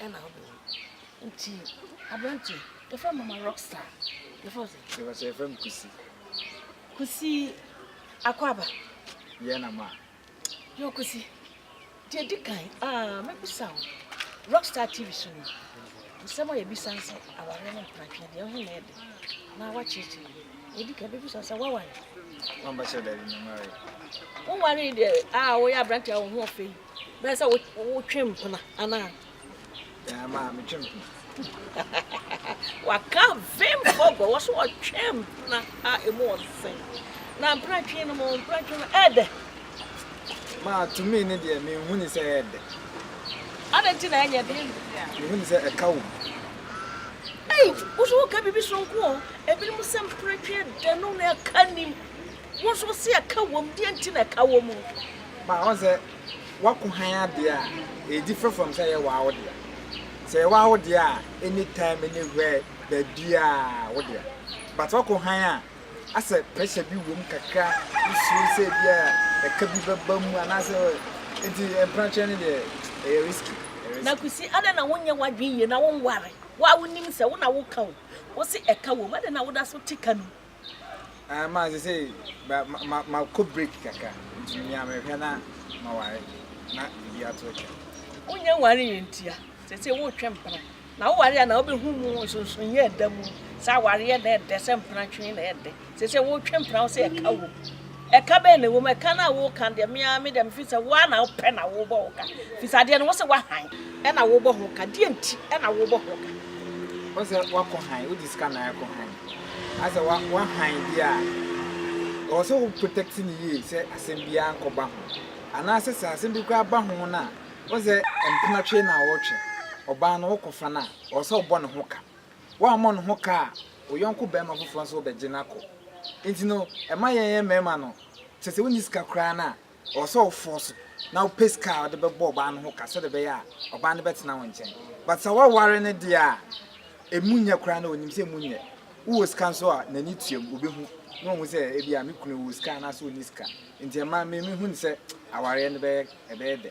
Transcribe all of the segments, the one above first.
ɛna ɔbɔ no nti aberante yɛfrɛ mama rockstar yɛfrɛ sɛ yɛfrɛ sɛ yɛfrɛ me kusi kusi akwaba yɛ na ma yɛ kusi deɛ di kan aa mɛbisa wo rockstar tv so no nsɛm a yɛbisa sɛ aware ne mpratwe deɛ ɔhe na ɛde na wakyerɛkyerɛ yɛdi kan bɛbisa sɛ woaware wambɛsɛ dɛ nyamare woware deɛ a woyɛ aberante a wo ho ɔfɛ yi Bɛyɛ sɛ wotwe mpena anaa? Ɛɛ maa metwe mpena. Waka vemfo bɔ wɔso wɔtwe mpena a emu ɔsɛn. Na mpena twe no mo mpena twe no ɛdɛ. Maa tumi ne deɛ mehu ne sɛ ɛdɛ. Adɛ nti na ɛnyɛ dɛ? Mehu ne sɛ ɛka wom. Ei, woso woka biribi soronko o. Ebinom sɛ mpena twe ɛdɛ no na ɛka nim. Wo nso wo se ɛka wom, deɛ nti na ɛka wom? Ma ɔn sɛ wako hann adeɛ a ɛdi frɛfrɛm sɛ ɛyɛ waa wo dea. Sɛ ɛyɛ waa wo dea a any time any where baabiaa wo dea. But wako hann a asɛ pressure bi wom kakra wo suro sɛ ebia ɛka bi bɛba mu anaasɛ nti mprakyerɛ no deɛ ɛyɛ risky. Na Kwesi adɛn na wo nyɛ w'adwene yie na wo nware? Wo a wo nim sɛ wo na wo ka o. Wo se ɛka wom, adɛn na wo da so te ka no mu? Ɛma sesei makɔ break kakra nti nea mehwɛ na maware na ebi ato atwa. Wonyɛ nware yɛ ntia sesei wotwe mpena na woware a na wobɛhu mu nsonsonoeɛ ɛda mu sɛ awareɛ na ɛdɛ sɛ mpena twe na ɛdɛ sesei wotwe mpena wo sɛ ɛka wɔ mu. Ɛka bɛn na ɛwɔ mu? Ɛka no a woreka deɛ, me ara me deɛ mefeel sɛ wo ara na wopɛ na worebɔ ho ka. Ɛfiri sɛ adeɛ no, wose woahan na worebɔ ho ka. Deɛn nti na worebɔ ho ka? Wose woakɔ hann, wogye sika na woakɔ hann. Ayɛ sɛ woahan bi a, ɛwɔ sɛ wo protect no yie sɛ asɛm biara nkɔba ho. Anaasɛ sɛ asɛm bi koraa ba ho no a, wose mpena twe na woretwe. Ɔbaa no wokɔfa no a, ɛwɔ sɛ wobɔ ne ho ka. Wammɔ ne ho ka a, wo yɔnko barima foforɔ nso bɛgye no akɔ. Nti no, ɛma yɛn mmarima no, kyerɛ sɛ wonni sika koraa no a, ɛwɔ sɛ wo fɔɔso na wopɛ sika a wode bɛbɔ ɔbaa no ho ka sɛdeɛ ɛbɛyɛ a ɔbaa no bɛtena wo nkyɛn. But sɛ woaware no deɛ a, ɛmu nyɛ koraa no, ɔnim sɛ ɛmu nyɛ. Wowɔ sika nso a, n'ani tuam, ɔbɛhu na wahu sɛ ebia me kunu wɔ sika anaasɛ ɔnni sika. Nti ɛma me mehu no sɛ awareɛ no bɛyɛ, ɛbɛyɛ dɛ.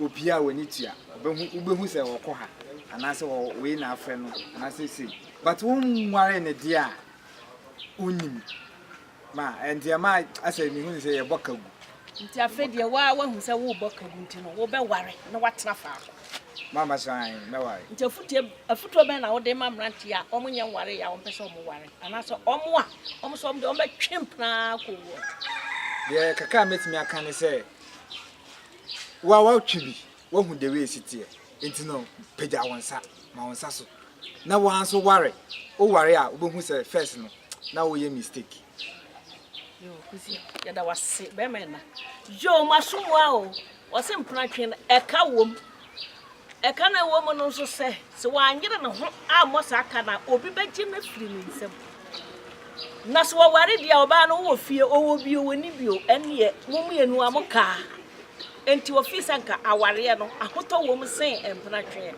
Obiara a w'ani tua, ɔbɛhu, wobɛhu sɛ ɔkɔ ha, anaasɛ wɔ wei na afrɛ no, anaasɛ sei. But wo nware ne deɛ a, wonnim. Ma, ɛnti ɛma asɛ mehu ne sɛ yɛbɔ ka gu. Nti afei deɛ woa woahu sɛ wobɔ ka gu nti no, wobɛware na woatena faako. Mama so ae, mɛware. Nti afutuo, afutuo bɛn na wode ma mmeranteɛ a wɔn nyɛ nwareeɛ a wɔn pɛ sɛ wɔn ware, anaasɛ wɔn a wɔn sɛ wɔn deɛ wɔn bɛtwe mpena ara kɔ wuo? Deɛ kakra a mɛtumi aka ne sɛ. Wo a woatwe bi, woahu deɛ wei si teɛ, enti no pagya wo nsa, ma wo nsa so. Na wo ara nso ware, woware a wobɛhu sɛ first no na woyɛ mistake. Yoo Kusi yɛda wo ase bɛɛma ɛna. Yoo mo aso mmoa o wɔse mpena twe no ɛka wom. Ɛka na ɛwɔ mu no nso sɛ, sɛ wanyere ne ho ammɔ saa ka no a, obi bɛgye no afiri ne nsam. Na sɛ wɔware deɛ a, ɔbaa no wowɔ fie, ɔwɔ bi o, ɔnni bi o, ɛnneɛ mo mmienu ara mokaa. Enti wɔfii sɛ anka awareɛ no, ahotɔ wom sen mpenatweɛ.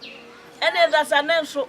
Ɛnna Ɛsra Sane nso.